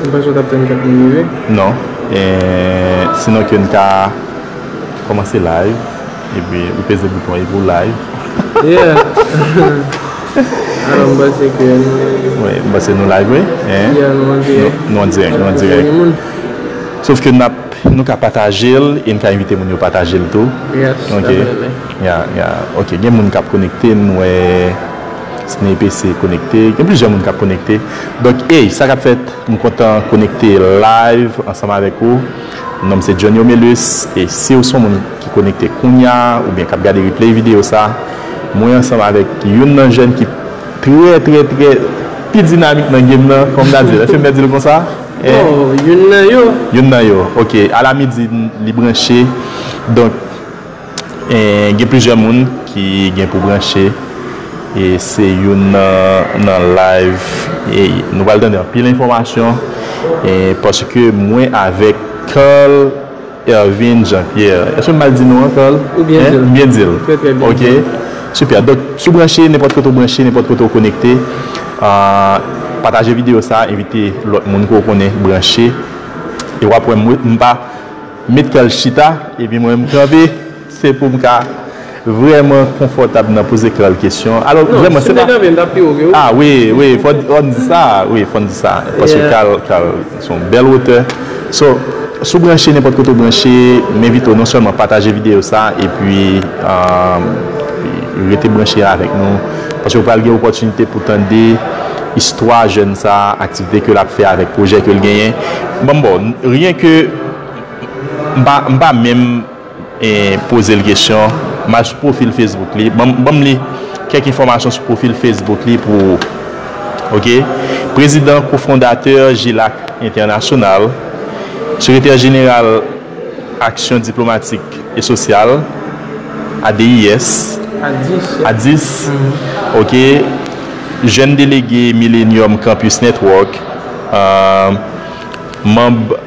Ou panse ou tap tann kat moun rive? Non, sinon ke nou ta komanse live epi ou peze bouton epi ou live. Yeah! Alò m panse ke nou live. Wi, m panse nou live wi. Yeah, nou an dirèk. Nou an dirèk, nou an dirèk. Sof ke nap, nou ka pataje l e n ka envite moun yo pataje l tou. Yes, definitely. Yeah, yeah. Ok, gen moun kap konekte, m wè. Snapc konekte, gen plizyè moun kap konekte donk ey sa kap fèt m kontan konekte live ansanm avèk ou non m se Johnny Omelus e siw son moun ki konekte kounya oubyen kap gade replay video sa mwen ansanm avèk youn nan jèn ki trè trè trè pi dinamik nan game nan kòm nan dil èske m mèt dil konsa bon youn nan yo youn nan yo ok ala midi li branche donk. Gen plizyè moun ki gen pou branche e se youn nan live nou pral tande anpil enfòmasyon paske mwen avèk Carl Ervin Jean Pierre èske m mal di non an Carl? Ou byen di l. M byen di l? Trè trè byen. Ok super donk si w branche nenpòt kote w branche nenpòt kote w konekte pataje videyo sa envite lòt moun ke w konnen branche e wap wè m pa Met kal chita epi mwen m kanpe se pou m ka vrèman konfòtab nan poze kal kesyon alò vrèman se pa a wi wi fò n di sa wi fò n di sa paske kal kal se yon bèl otè so si w branche nenpòt kote w branche m envite w non sèlman pataje videyo sa epi rete branche avèk nou paske w pral gen opòtinite pou tande istwa jèn sa aktivite ke l ap fè avèk pwojè ke l genyen ban m ba w ryen ke M pa menm poze l kesyon, m al sou pwofil Facebook li. Ban m li kèk enfòmasyon sou pwofil Facebook li pou ou. Ok. Prezidan Kofondatè Jilac Entènasyonal, Sekretè Jeneral Aksyon Diplomatik e Sosyal, ADIS, Adis, ok. Jèn Delege Millenium Campus Network, Manb.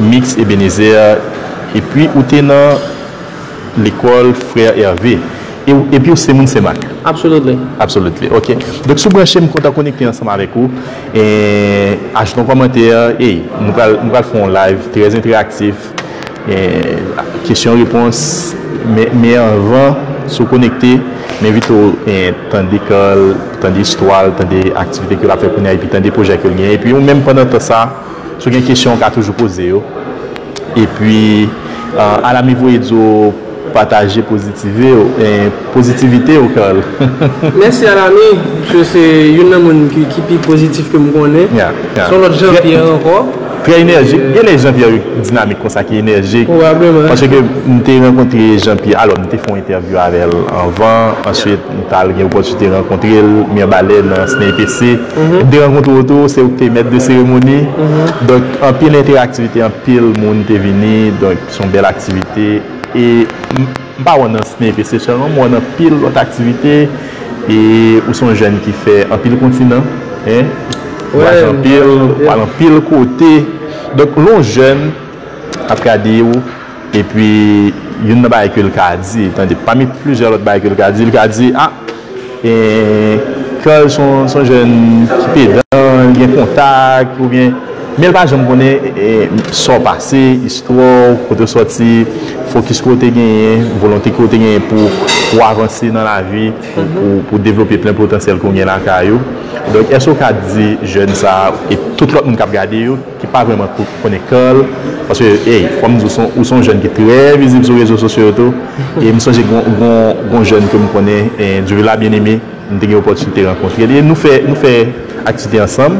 Mix Ebenezer Epi ou te nan lekòl Frère Hervé e ou epi ou se moun Senmak? Absolutely. Absolutely ok donk si w branche m kontan konekte ansanm avèk ou eee ajoute yon kòmantè ey nou pral nou pral fè yon live trè entèraktif eee kesyon repons men anvan si w konekte m envite w tande kan l tande istwa l tande aktivite ke l ap fè kounya epi tande pwojè ke l genyen epi ou menm pandan tan sa. Si w gen kesyon ou ka toujou poze yo. Epi Alamy voye di w pataje pozitive w, pozitivite w Carl. Mèsi Alamy, misye se youn nan moun ki pi pozitif ke m konnen. Se yon lòt Jean Pierre ankò. Trè enèjik, gen lè Jean Pierre dinamik konsa ki enèjik. Pwobableman. Paske m te rankontre Jean Pierre, alò m te fè yon entèvyou avè l anvan, answit. M t al gen opòtinite rankontre l, Mirbalais nan SNEIPC. M te rankontre w tou, se ou k te mèt de seremoni. Donk anpil enteraktivite, anpil moun te vini. Donk se yon bèl aktivite. E m pa wè w nan SNEIPC sèlman, m wè w nan anpil lòt aktivite. E ou se yon jèn ki fè anpil kontinan. Vwayaje anpil, w al anpil kote. Donk lè yon jèn ap gade w. Epi, youn nan bagay ke l ka di, tande, pami plizyè lòt bagay ke l ka di, l ka di, a, e, Carl se yon, se yon jèn ki pedan, li gen kontak, oubyen, men l pa janm konnen, e, sa w pase, istwa w, kote w sòti, fokis ke w te genyen, volonte ke w te genyen pou, pou w avanse nan lavi, pou, pou, pou w devlope plen potansyèl ke w gen lakay ou. Donk, èske w ka di jèn sa a, e tout lòt moun k ap gade yo, ki pa vrèman konnen kò l, paske ey fò m di w ou se yon jèn ki trè vizib sou rezo sosyo yo tou, e m sonje gon jèn ke m konnen Duvilla Bien Aimé m te gen opòtinite rankontre l e nou fè nou fè aktivite ansanm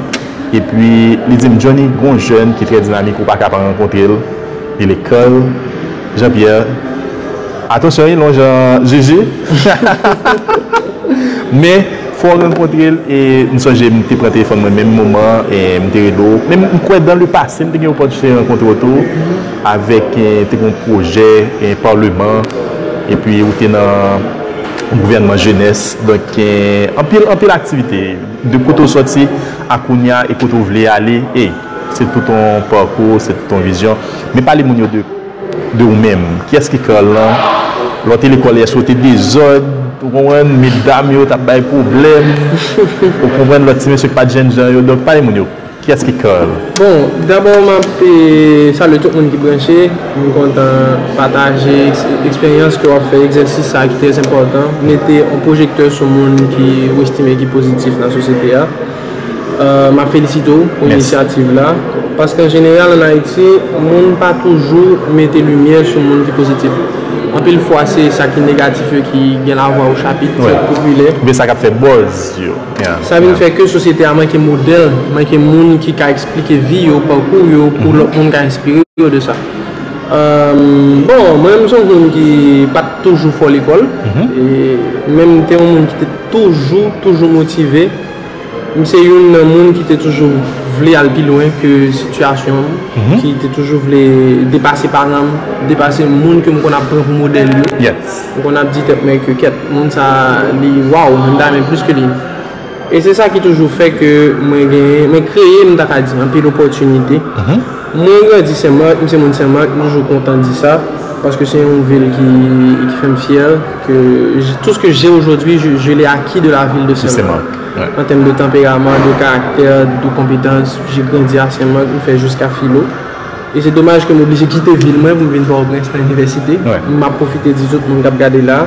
epi li di m Johnny gon jèn ki trè dinamik ou pa ka pa rankontre l li lekòl Jean Pierre atansyon li long jan zuzu men fòw rankontrel e m sonje m te pran telefòn mwen menm moman an e m te rele w men m kwè dan le pase m te gen opòtinite rankontre w tou avèk te gen yon pwojè parleman epi ou te nan gouvènman jenès donk gen anpil anpil aktivite de kote w sòti a kounya e kote w vle ale e. Se tout on pakou, se tout on vizyon. Men pale moun yo de de ou menm. Kiyès ki Carl lan? Lè w te lekòl èske w te dezòd? Ou konprann? Medam yo t ap bay pwoblèm. Ou konprann? Lòt ti mesye k pa t jènjan yo. Donk pale moun yo, kiyès ki Carl? Bon, dabò m ap salye tout moun ki branche. M kontan pataje eksperyans ke w ap fè egzèsis sa a ki trèzenpòtan. Mete on pwojektè sou moun ki ou estime ki pozitif nan sosyete a. M ap felisite w pou inisyativ la. Paske an jeneral an Ayiti, moun pa toujou mete limyè sou moun ki pozitif. Anpil fwa se sa ki negatif yo ki gen lavwa ochapit, ki popilè. Oubyen sa k ap fè buzz yo. Sa vin fè ke sosyete a manke modèl, manke moun ki ka eksplike vi yo, pakou yo pou lòt moun ka enspire yo de sa. Bon, mwen menm m se yon moun ki pa t toujou fò lekòl. Men m te yon moun ki te toujou, toujou motive. M se youn nan moun ki te toujou vle al pi lwen ke sitiyasyon m, ki te toujou vle depase paran m, depase moun ke m konn ap pran pou modèl yo. M konn ap di tèt mwen ke kèt, moun sa a li waw, m ta renmen plis ke li. E se sa ki toujou fè ke mwen genyen, mwen kreye m ta ka di anpil opòtinite. Mwen grandi Sen Marc, m se moun Sen Marc, m toujou kontan di sa, paske se yon vil ki fè m fyè ke tout ce que j'ai aujourd'hui je l'ai acquis de la ville de Sen Marc an tèm de tanperaman, de karaktè, de konpetans, j'ai grandi à Sen Marc, m fè jiska filo e se domaj ke m oblije kite vil mwen pou m vin Port-au-Prince nan inivèsite, m ap pwofite di tout moun k ap gade la.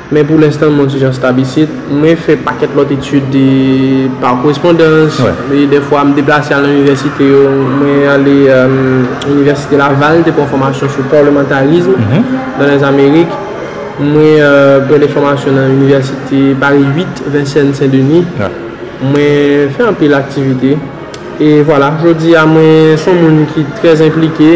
Men pou lenstan mwen ti jan stab isit. Mwen fè pakèt lòt etid pa korespondans. Dèfwa m deplase al nan inivèsite yo. Mwen ale inivèsite Laval, te pran fòmasyon sou parlementarism nan Lèzamerik. Mwen pran de fòmasyon nan inivèsite Paris 8, Vincennes Saint Denis. Mwen fè anpil aktivite. E vwala, jodi a mwen s on moun ki trè enplike.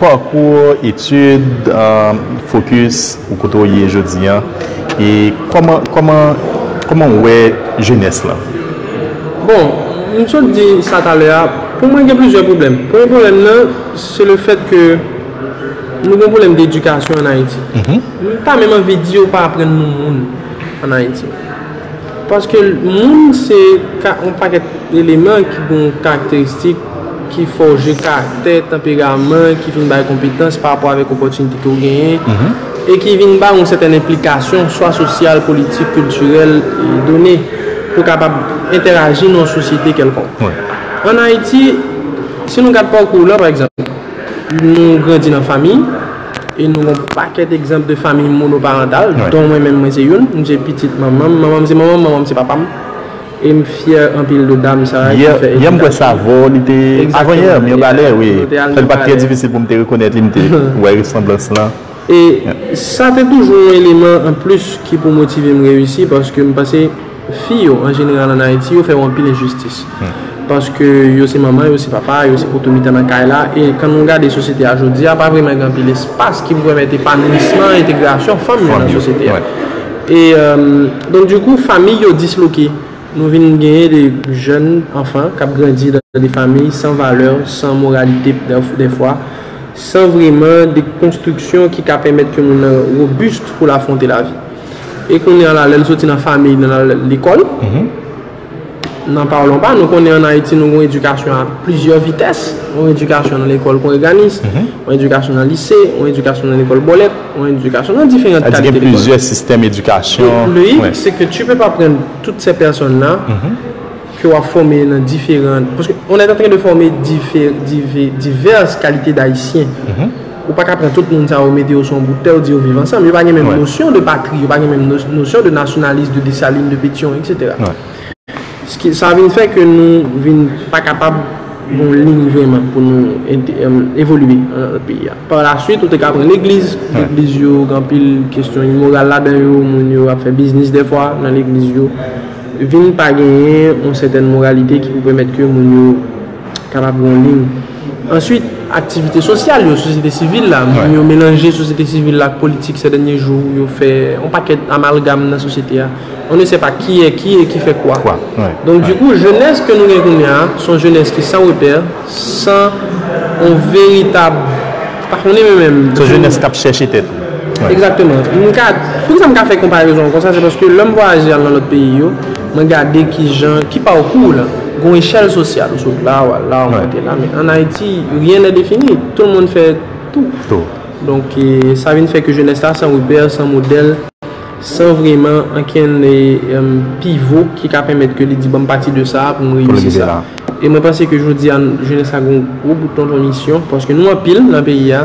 Pakou ou, etid, fokis ou kote ou ye jodi an e kòman kòman kòman ou wè jenès lan? Bon, m sot di sa talè a, pou mwen gen plizyè pwoblèm. Premye pwoblèm nan, se le fèt ke nou gen pwoblèm dedikasyon an Ayiti. M pa menm anvi di yo pa aprann nou moun an Ayiti. Paske moun se ka yon pakèt eleman ki gen yon karakteristik ki fòje karaktè, tanperaman, ki vin bay konpetans pa rapò avèk opòtinite ke w genyen e ki vin ba ou yon sètèn enplikasyon swa sosyal, politik, kiltirèl done pou kapab entèraji nan yon sosyete kèlkonk. An Ayiti, si nou gad pakou w la, pa egzanp, nou grandi nan famiy, E nou gon pakèt egzanp de famiy monoparantal, don mwen menm mwen se youn, m se pitit manman m, manman m se manman m, manman m se papa m. E m fyè anpil de dam sa a ki fè edikasyon an. Yè m kwè Savo li te, avan yè, Mirbalè wi. Fè l pa t trè difisil pou m te rekonèt li, m te wè resanblans lan. E sa te toujou yon eleman anplis ki pou motive m reyisi paske m panse. Fi yo, an jeneral an Ayiti, yo fè yo anpil enjistis. Paske yo se manman, yo se papa, yo se poto mitan nan kay la. E kan nou gade sosyete a jodi a, pa vreman gen anpil espas ki pou pèmèt epanouisman, entegrasyon fanm yo nan sosyete a. E, donk di kou, famiy yo disloke. Nou vin genyen de jèn anfan k ap grandi nan de famiy san valè, san moralite dèfwa, san vreman de konstriksyon ki ka pèmèt ke moun nan robust pou l afwonte lavi. E kounye a la, lè l soti nan famiy nan l al lekòl, nan pawlon pa nou, konnen an Ayiti nou gen yon edikasyon a plizyè vitès, yon edikasyon nan lekòl kongreganis, yon edikasyon nan lise, yon edikasyon nan lekòl bòlèt, yon edikasyon nan diferant kalite lekòl. Sa di gen plizyè sistèm edikasyon. Donk, loyik se ke tu pe pa pran tout sè pèsòn la ke w ap fòme nan diferan, paske on è antren de fòme divès kalite dayisyen. Ou pa ka pran tout moun sa yo mete yo sou yon bout tè ou di yo viv ansanm. Yo pa gen menm nosyon de patri, yo pa gen menm nosyon de nasyonalis, de Desalin, de Petyon, etc. Sa vin fè ke nou vin pa kapab gen yon lin vreman pou nou evolye nan peyi a. Par la swit, ou te ka pran legliz, legliz yo gen anpil kestyon imoral ladan yo, moun yo ap fè biznis dèfwa nan legliz yo. Vin pa genyen yon sètèn moralite ki pou pèmèt ke moun yo. kapab gen yon liy. Answit, aktivite sosyal yo, sosyete sivil la, moun yo melanje sosyete sivil la ak politik sè dènye jou, yo fè yon pakèt amalgam nan sosyete a, on ne sè pa ki è ki e ki fè kwa. Donk di kou, jenès ke nou gen kounye a, se yon jenès ki san repè, san yon veritab, m pa konnen mwen menm. Se yon jenès kap chèche tèt li. Egzakteman. M ka, poukisa m ka fè konparezon an konsa, se paske lè m vwayaje al nan lòt peyi yo, Mwen gade kijan, ki pa w kou w lan, gon echèl sosyal. Ou sot la, w al la, w monte la. Men an Ayiti, rien n'est défini. Tout moun fè tou. Donk, sa vin fè ke jenès la san repè, san modèl, san vreman ankenn pivo ki ka pèmèt ke li di banm pati de sa pou m reyisi sa. E mwen panse ke jodi a, jenès la gen yon gwo bout tonton misyon paske nou anpil nan peyi a.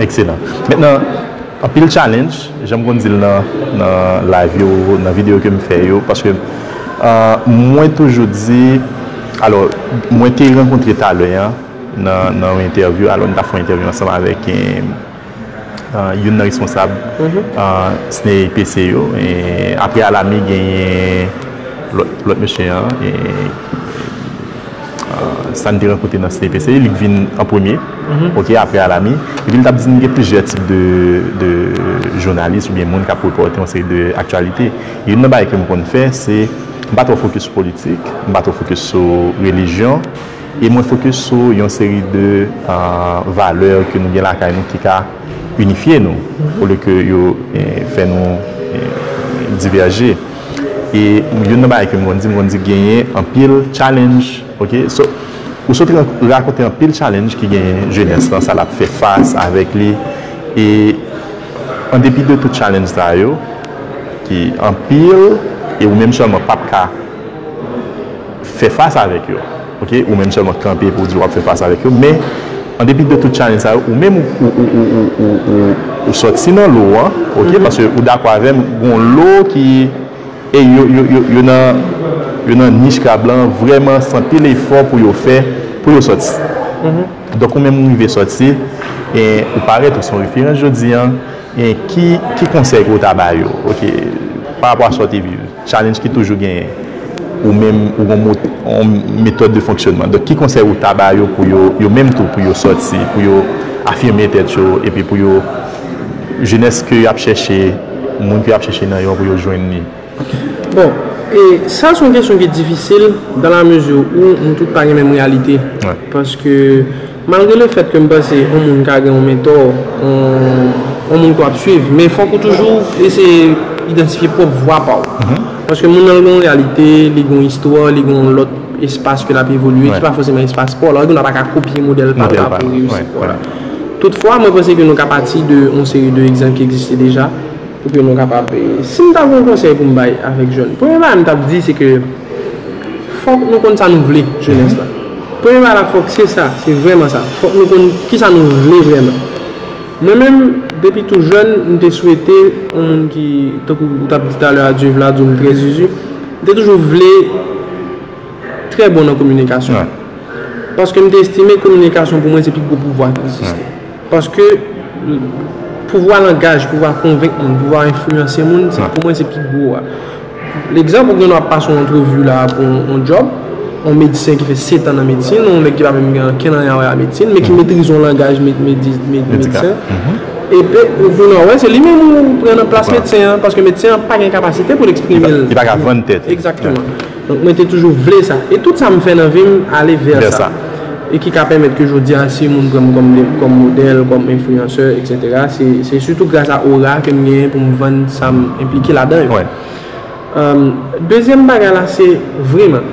Ekselan. Met nan anpil challenge, janm konn dil nan nan live yo, nan video kem fè yo, paske mwen toujou di, alò mwen te rankontre talè an nan nan yon entèvyou, alò nou tap fè yon entèvyou ansanm avèk youn nan responsab SNEIPC yo, aprè Alamy genyen lòt lòt mesye an. Stan te rankontre nan CPC, li t vin an premye, ok, aprè Alamy, epi li t ap di n gen plizyè tip de jounalis oubyen moun k ap repòte yon seri de aktyalite. Youn nan bagay ke m konn fè se, m pa twò fokis sou politik, m pa twò fokis sou relijyon, e mwen fokis sou yon seri de valè ke nou gen lakay nou ki ka inifye nou, olye ke yo fè nou divèje. E youn nan bagay ke m konn di, m konn di genyen anpil challenge, ok. So, ou sot rakonte anpil challenge ki genyen jenès lan, sa l ap fè fas avèk li. E an depi de tout challenge sa yo, ki anpil, e ou menm sèlman p ap ka fè fas avèk yo. Ok ou menm sèlman kanpe pou w di wap fè fas avèk yo men an depi de tout challenge sa yo ou menm ou sòti nan lo an ok paske ou dakò avèm gon lo ki ey yo nan yo nan nich krab lan vrèman san pil efò pou yo fè pou yo sòti donk ou menm ou rive sòti e ou parèt ou son referans jodi an e ki konsèy ke ou ta ba yo ok parapò a sa w te viv. Challenge ki toujou genyen. Ou menm ou gon yon metòd de fonksyonman. Donk ki konsèy ou ta ba yo pou yo, yo menm tou pou yo sòti, pou yo afime tèt yo epi pou yo jenès ke yap chèche, moun ke yap chèche nan yo pou yo jwenn li? Bon, e sa se yon kesyon ki difisil, dan la mezi ou nou tout pa gen menm reyalite. Paske. Malgre le fèt ke m panse on moun ka gen on mentò, on moun ke w ap swiv, men fòk ou toujou eseye idantifye pwòp vwa pa w. Paske moun lan gen on reyalite, li gen on istwa, li gen on lòt espas ke l ap evolye ki pa fòseman espas pa w la. Oubyen nou pa ka kopye modèl pa l la pou reyisi pa w la. Tout fwa, mwen panse ke nou ka pati de on seri de egzanp ki egziste deja pou ke nou kapab. Si m ta gen on konsèy pou m bay avèk jèn, premye bagay m t ap di se ke fòk nou konn sa nou vle, jenès la. Premye bagay la fòk se sa, se vrèman sa. Fòk nou konn kisa nou vle vrèman. Mwen menm, depi tou jèn, m te swete yon moun ki, tankou ou t ap di talè a Dieu Vlado m trè zuzu, m te toujou vle trè bon nan kominikasyon. Paske m te estime kominikasyon pou mwen se pi gwo pouvwa ki egziste. Paske pouvwa langaj, pouvwa konvenk moun, pouvwa enfliyanse moun, pou mwen se pi gwo a. Lekzanp, ou gen dwa ap pase yon antrevi la pou yon djòb, yon medsen ki fè setan nan medsin, yon nèg ki pa menm gen ankenn anyen a wè a medsin, men ki metrize yon langaj medsen, epi ou vin wè se li menm ou pran nan plas medsen an, paske medsen an pa gen kapasite pou l eksprime l. Li pa ka vann tèt li. Egzakteman. Donk mwen te toujou vle sa. E tout sa m fè nan vi m ale vè sa. E ki ka pèmèt ke jodi a si moun pran m kòm modèl, kòm enfliyansè etc. Se sitou gras a ora ke m genyen pou m vann sa m enplike ladan yo. Dezyèm bagay la se vreman,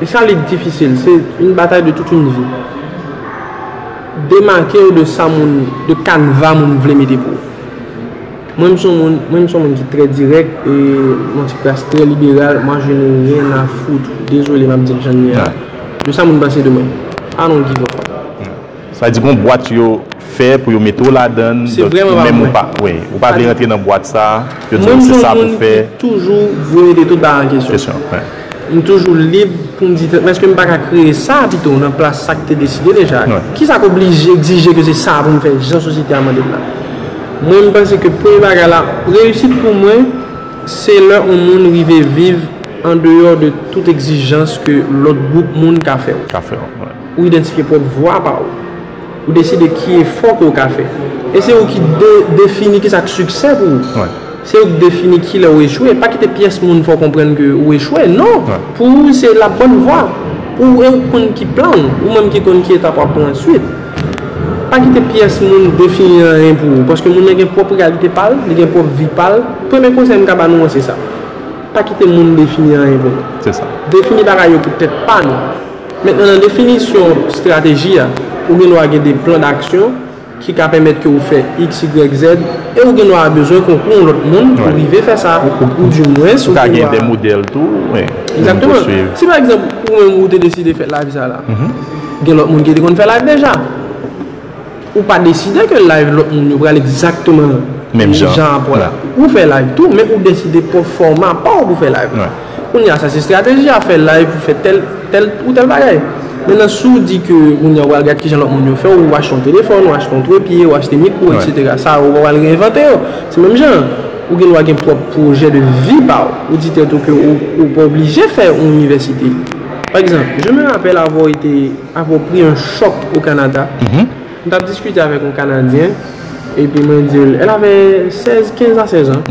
e sa li difisil, se yon batay de tout yon vi. Demake w de sa moun, de kanva moun vle mete pou ou. Mwen m son moun, mwen m son moun ki trè dirèk e yon ti kras trè liberal, mwen je n'ai rien à foutre, dezole map dil janm ye a, de sa moun panse de mwen. I don't give a fuck. Sa vle di gon bwat yo fè pou yo mete w ladann, donk ou menm ou pa ou pa vle rantre nan bwat sa, yo di w se sa pou fè. Mwen m son moun ki toujou vwe mete tout bagay an kesyon. M toujou lib pou m di tèt mwen èske m pa ka kreye sa pito nan plas sa ki te deside deja? Ki sa k oblije, egzije ke se sa pou m fè jan sosyete a mande m la? Mwen m panse ke premye bagay la, reyisit pou mwen se lè on moun rive viv andeyò de tout egzijans ke lòt gwoup moun ka fè w. Ou idantifye pwòp vwa pa ou. Ou deside ki efò ke ou ka fè. E se ou ki defini ki sa k siksè pou ou. Se ou ki defini ki lè ou echwe. Pa kite pyès moun fè ou konprann ke ou echwe. Non! Pou ou se la bòn vwa. Pou ou e ou k konn ki plan ou. Ou menm ki konn ki etap w ap pran answit. Pa kite pyès moun defini anyen pou ou. Paske moun nan gen pwòp reyalite pa l, li gen pwòp vi pa l. Premye konsèy m ka ba nou an se sa. Pa kite moun defini anyen pou nou. Defini bagay yo pou tèt pa nou. Mentnan nan definisyon strateji a, ou gen dwa gen de plan daksyon ki ka pèmèt ke ou fè XYZ e ou gen dwa bezwen konkou yon lòt moun pou rive fè sa ou di mwens ou gen dwa. Ou ka gen de modèl tou wi. Egzakteman. Si pa egzanp ou menm ou te deside fè live sa la, gen lòt moun ki te konn fè live deja. Ou pa deside ke live lòt moun yo pral egzakteman menm jan a pou la. Ou fè live tou, men ou deside pran fòma pa w pou fè live la. Kounye a sa se estrateji a, fè live pou fè tèl tèl ou tèl bagay. Mennan si w di ke kounye a ou pral gad kijan lòt moun yo fè, ou achte yon telefòn, ou achte yon trepye, ou achte mikwo eksetera, sa yo ou pa pral reenvante yo. Se menm jan an. Ou gen dwa gen pwòp pwojè de vi pa w. Ou di tèt ou ke ou pa oblije fè yon inivèsite. Pa egzanp, je me rappelle avoir été. Apwopriye yon chòk o Kanada. M tap diskite avèk yon Kanadyen, epi mwen di l, el ave 16, 15 a 16 an.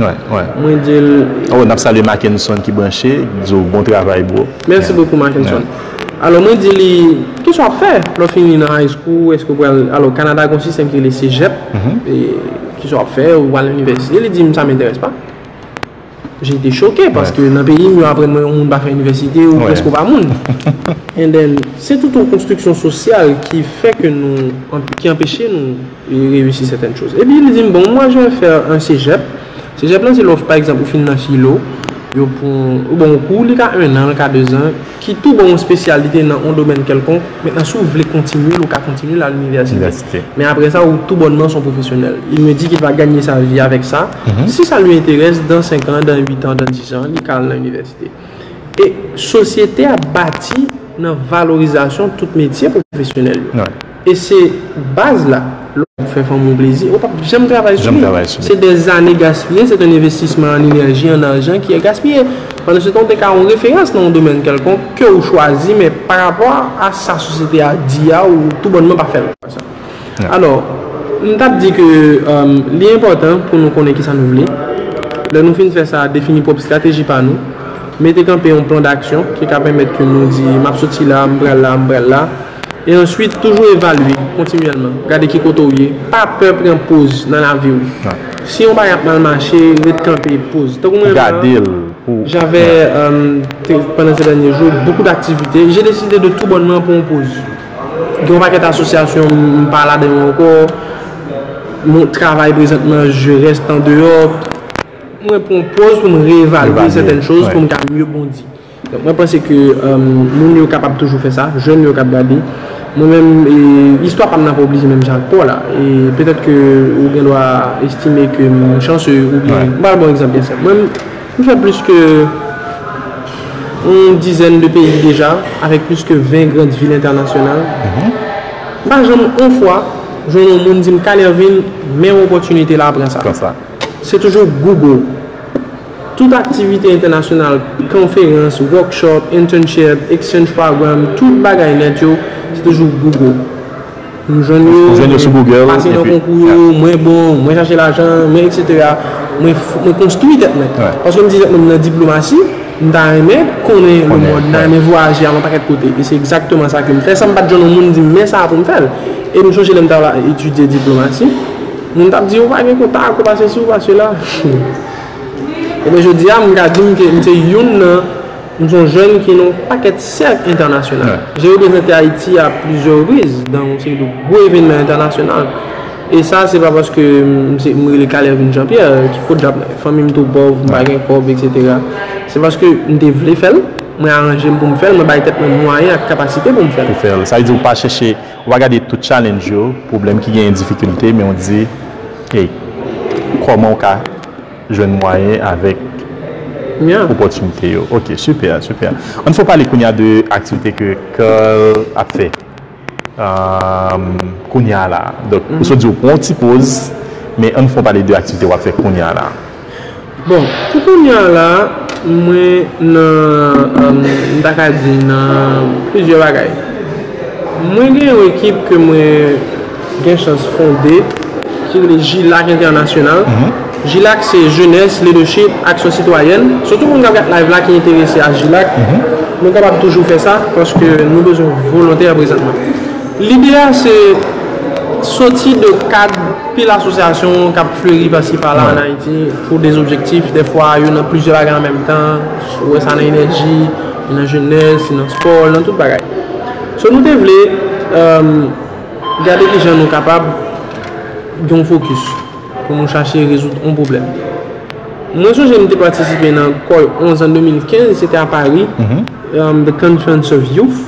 Mwen di l. Oh, n ap salye Mackenson ki branche, k di w bon travay bro. Mèsi bokou Mackenson. Alò mwen di li, kisa w ap fè lè w fini nan high school, èske w pral, alò Kanada gen yon sistèm ki rele cégep, kisa w ap fè, ou pral nan inivèsite, li di m sa m'intéresse pas. J'étais choqué paske nan peyi m yo aprann mwen yon moun pa fè inivèsite ou prèske ou pa moun. And then se tout yon konstriksyon sosyal ki fè ke nou, ki anpeche nou reyisi sètèn choz. Epi li di m bon moi je vais faire un cégep, cégep lan se lè w pa ekzanp ou fin nan filo, yo pran, bon kou li ka 1 an, li ka 2 zan. ki tou ba w yon spesyalite nan yon domèn kèlkonk, mentnan si w vle kontinye l ou ka kontinye l al inivèsite, men aprè sa ou tou bònman s on pwofesyonèl, il me dit qu'il va gagner sa vie avec ça, si sa lui interesse dans 5 ans, dans 8 ans, dans 10 ans li ka al nan inivèsite e sosyete a bati nan valorizasyon tout metye pwofesyonèl yo. E se baz la. Lè w ap fè fanmi w plezi, ou pap janm travay sou li. Se dè zane gaspiye, se te yon envestisman an enèji, an ajan ki ye gaspiye. Pandan se tan ou te ka yon referans nan yon domèn kèlkonk ke ou chwazi men pa rapò a sa sosyete a di a ou tou bònman pa fè l. Alò, m t ap di ke li enpòtan pou nou konnen kisa nou vle. Lè nou fin fè sa, defini pwòp estrateji pa nou. Mete kanpe yon plan daksyon ki ka pèmèt ke nou di m ap soti la, m pral la, m pral la. E answit, toujou evalye, kontinyèlman. Gade ki kote ou ye. Pa pè pran poz nan lavi ou. Si yon bagay ap mal mache, ret kanpe, poz. Tankou mwen menm la, j'avais, pandan se dènye jou, beaucoup d'activités, j'ai décidé de tout bonnement pran yon poz. Gen yon pakèt asosyasyon m pa ladan yo ankò, mwen travay prezantman, je reste en dehors. Mwen pran yon poz pou m revalye sètèn choz pou m ka mye bondi. Donk mwen panse ke moun yo kapab toujou fè sa, jèn yo kap gade. Mwen menm istwa pam nan pa oblije menm jan ak paw la. E petèt ke ou gen dwa estime ke m chanse oubyen m pral ba w egzanp byen senp. Mwen m fè plis ke yon dizèn de peyi deja avèk plis ke 20 grand vil entènasyonal. M pa janm yon fwa jwenn yon moun di m Kanervil men yon opòtinite la pran sa. Se toujou Google. Tout aktivite entènasyonal, konferans, workshop, internship, exchange program, tout bagay nèt yo, se toujou Google. Nou jwenn yo, mwen pase nan konkou yo, mwen bon, mwen chache lajan, mwen etc. Mwen konstwi tèt mwen. Paske m di tèt mwen m nan diplomasi, m ta renmen konnen le mond, m ta renmen vwayaje al yon pakèt kote. E se egzakteman sa ke m fè, san m pa t jwenn yon moun di m men sa pou m fè l. E m sonje lè m t ap etidye diplomasi, moun t ap di ou pa gen kontak, ou pa sesi, ou pa sela. Ebyen jodi a m ka di m ke m se youn nan m son jèn ki nan yon pakèt sèk entènasyonal. Je reprezante Ayiti a plizyè repriz nan yon seri de gwo evènman entènasyonal. E sa se pa paske m rele Calais vin Jean Pierre ki fot djab mwen. Fanmi m tou pòv, m pa gen kòb eksetera. Se paske m te vle fè l, mwen aranje m pou m fè l, mwen bay tèt mwen mwayen ak kapasite pou m fè l. Sa vle di ou pa chèche Ou pa gade tout challenge yo, pwoblèm ki genyen difikilte men ou di hey kòman ou ka jwenn mwayen avèk opòtinite yo ok super super ann fè w pale kounya de aktivite ke Carl ap fè kounya la donk ou sot di ou pran w ti poz men ann fè w pale de aktivite wap fè kounya la. Bon, pou kounya la, mwen nan, m ta ka di nan plizyè bagay. Mwen gen yon ekip ke mwen gen chans fonde, ki rele JILAC Entènasyonal. JILAC se Jenès, Lidèchip, Aksyon Sitwayèn. Sitou moun k ap gad layv la ki enterese a JILAC, nou kapab toujou fè sa, paske nou bezwen volontè prezanman. Lide a se soti de kad. Pil asosyasyon k ap fleri pasi pala an Ayiti pou de objektif. Dèfwa yo nan plizyè bagay an menm tan. Ou wè sa nan enèji, nan jenès, nan spò, nan tout bagay. So nou te vle gade ki jan nou kapab gen yon fokis pou nou chache rezoud yon pwoblèm. Mwen sonje m te patisipe nan Kòy 11 an 2015, se te a Pari, The Conference of Youth.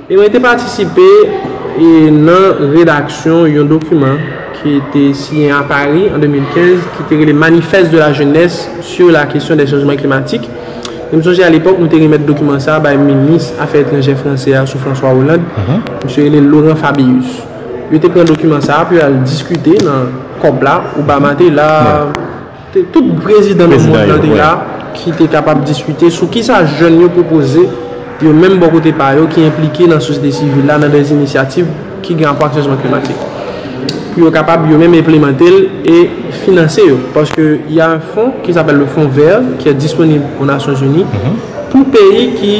E mwen te patisipe nan redaksyon yon dokiman ki te siyen a Pari an 2015 ki te rele Manifeste de la jeunesse sur la question des changements climatiques. E m sonje alepòk nou te remèt dokiman sa a bay minis afè etranjè franse a sou François Hollande, misye rele Laurent Fabius. Yo te pran dokiman sa a pou yo al diskite nan COP la, Obama te la. Tout prezidan nan mond lan te la ki te kapab diskite sou kisa jèn yo pwopoze yo menm bò kote pa yo ki enplike nan sosyete sivil la nan dè inisyativ ki gen rapò ak chanjman klimatik pou yo kapab yo menm enplemante l e finanse yo paske y a un fon ki sapèl le fon vè ki è disponib o nasyon zini pou peyi ki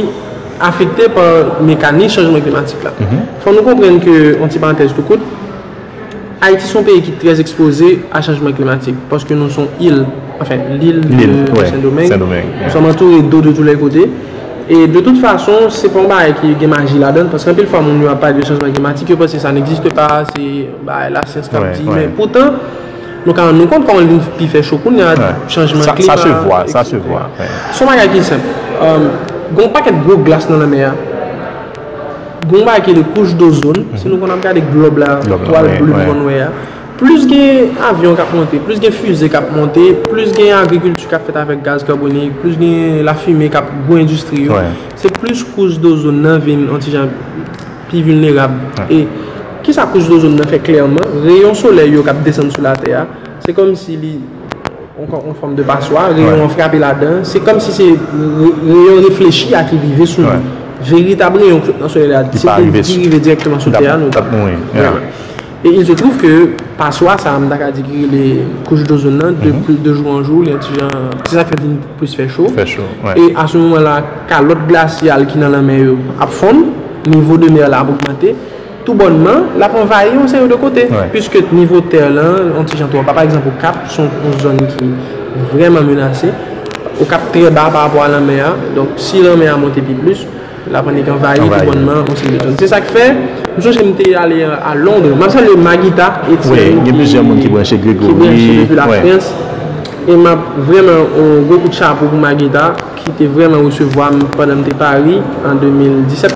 afekte pa mekanis chanjman klimatik la fò nou konprann ke on ti parantèz tou kout. Ayiti son peyi ki trè ekspoze a chanjman klimatik paske nou son il, anfen lil de Sendomeng, nou som antoure do de tou lè kote e de tout fason se pa yon bagay ki gen maji ladan l paske anpil fwa moun yo ap pale de chanjman klimatik yo panse sa negziste pa, se bagay lasyans k ap di men poutan nou ka rann nou kont kòman l vin pi fè cho kounya chanjman klima, sa se vwa, sa se vwa, se yon bagay ki senp gen yon pakèt gwo glas nan lanmè a. Gon bagay ki rele kouch dozon, si nou konn ap gade glòb la, twal plim mòn wè a, plis gen avyon k ap monte, plis gen fize k ap monte, plis gen agrikilti k ap fèt avèk gaz kabonik, plis gen lafimen k ap, gwo endistri yo, se plis kouch dozon nan vin yon ti jan pi vilnerab. E ki sa kouch dozon nan fè klèman? Reyon solèy yo k ap desann sou latè a, se kòmsi li. yon fòm de paswa, reyon an frape ladan, se kòm si se reyon reflechi a ki rive sou nou. Veritab reyon ki sot nan solèy la, se pou li di rive direktman sou tè a, nou tap mouri. E il se twouv ke paswa sa a, m ta ka di ki rele kouch dozon nan, de jou an jou, li yon ti jan, se sa k fè l vin plis fè cho. E a se moman la, kalòt glasyal ki nan lanmè yo ap fonn, nivo de mè la ap ogmante. Tou bònman, l ap anvayi yon seri de kote. Piske nivo tè lan yon ti jan twò ba. Pa egzanp, Okap se yon zòn ki vrèman menase. Okap trè ba parapò a lanmè a. Donk, si lanmè a monte pi plis, l ap annik anvayi tou bònman yon seri de zòn. Se sa k fè, m sonje m te ale a Londres. M ap salye Maguita Etienne ki branche depi Lafrans. E m ap vrèman yon gwo kout chapo pou Maguita ki te vrèman resevwa m pandan m te Paris an 2017.